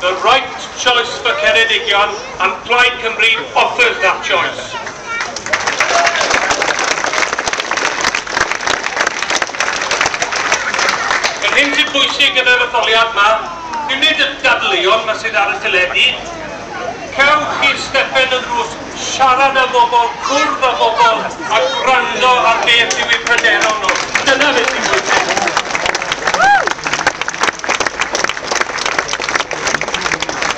The right choice for Ceredigion and Plaid Cymru offers that choice. Yr hyn sy'n bwysig yn yr etholiad ma, dim nid y dadleuon ma sydd ar y teledu, cewch chi'r stepen yn ddrws Siarad â bobl, cwrdd â bobl a gwrando ar beth yw eu pryderon nhw. Dyna beth sy'n bwysig.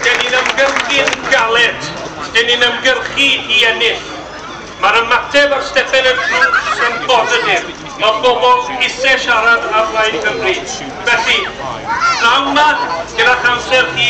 Dyn ni'n ymgyrchu'n galed. Dyn ni'n ymgyrchu i ennill. Mae'r ymateb ar stepen y drws yn bositif. Mae pobl eisiau siarad â Plaid Cymru. Felly, pnawn 'ma, gyda'ch amser chi,